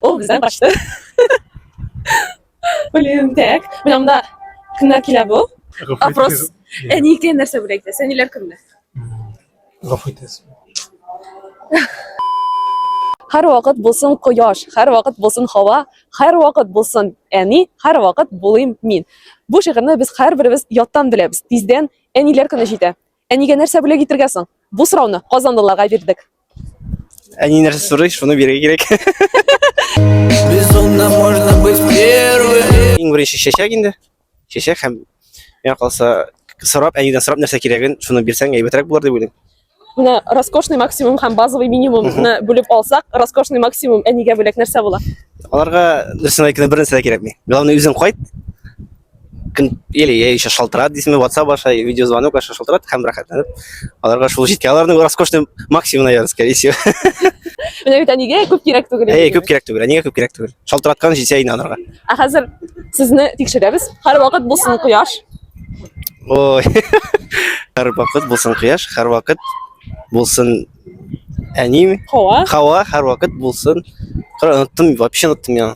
Ул бездән качты. Блин, так. Менә монда кемнәр килә бу? Опрос. Әникә нәрсә бүләк итә? Сәниләр кемнәр? Гафу итәсез. Һәр вакыт булсын кояш, һәр вакыт булсын һава, һәр вакыт булсын әни, һәр вакыт булыйм мин. Бу шигырьне без һәрберебез яттан беләбез. Тиздән әниләр көне җитә. Әнигә нәрсә бүләк итергә соң? Бу сорауны казанлыларга бирдек. Әни нәрсә сорый, шуны бирергә кирәк. Безумно можно быть первым. Иң беренче чәчәк инде. Чәчәк һәм миңа калса сорап, әнидән сорап нәрсә кирәген, шуны бирсәң әйбәтрәк булыр дип уйлыйм. Менә роскошный максимум һәм базовый минимумны бүлеп алсак, роскошный максимум әнигә бүләк нәрсә була? Аларга дөресен әйткәндә бер нәрсә дә кирәкми. Главное үзең кайт, или я еще шалтырат дейсіңбе ватсап аша видеозвонок аша шалтырат һәм рәхәтләнеп аларга шул җиткән аларның роскошный максимумына ярый скорее всего менә бит әнигә күп кирәк түгел әй күп кирәк түгел әнигә күп кирәк түгел шалтыраткан җитә инде аларга ә хәзер сезне тикшерәбез һәрвакыт булсын кояш ой һәрвакыт булсын кояш һәрвакыт булсын әним хава хава һәрвакыт булсын Коры, оныттым вообще оныттым я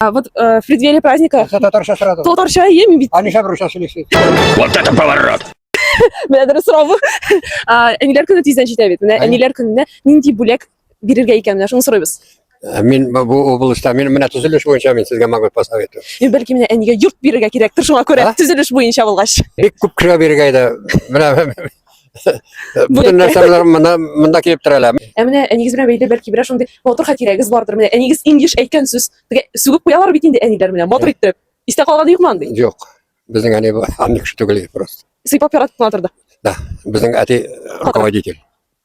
А вот э, в преддверии праздника... Це татарша сразу. Тот торча ем бит. Они шабру сейчас лишит. Вот это поворот! Менә дөрес сорау. Әниләр көне тиздән җитә бит. Менә әниләр көненә нинди бүләк бирергә икән менә шуны сорыйбыз. Ә, мин бу областьта мин менә төзелеш буенча мин сезгә могу посоветовать. Мин э, бәлки менә әнигә йорт бирергә кирәктер, шуңа күрә төзелеш буенча булгач. Бик күп кешегә бирергә иде. Менә Бүтән нәрсәләр монда монда килеп терәлә. Ә менә әнигез белән бәйле бәлки берәр шундый матур хатирәгез бардыр. Менә әнигез иң еш әйткән сүз. Тегә сүгеп куялар бит инде әниләр белән матур итеп. Истә калганы юкмы андый? Юк. Безнең әни бу андый кеше түгел иде просто. Сыйпап яратып кына торды. Да, безнең әти руководитель.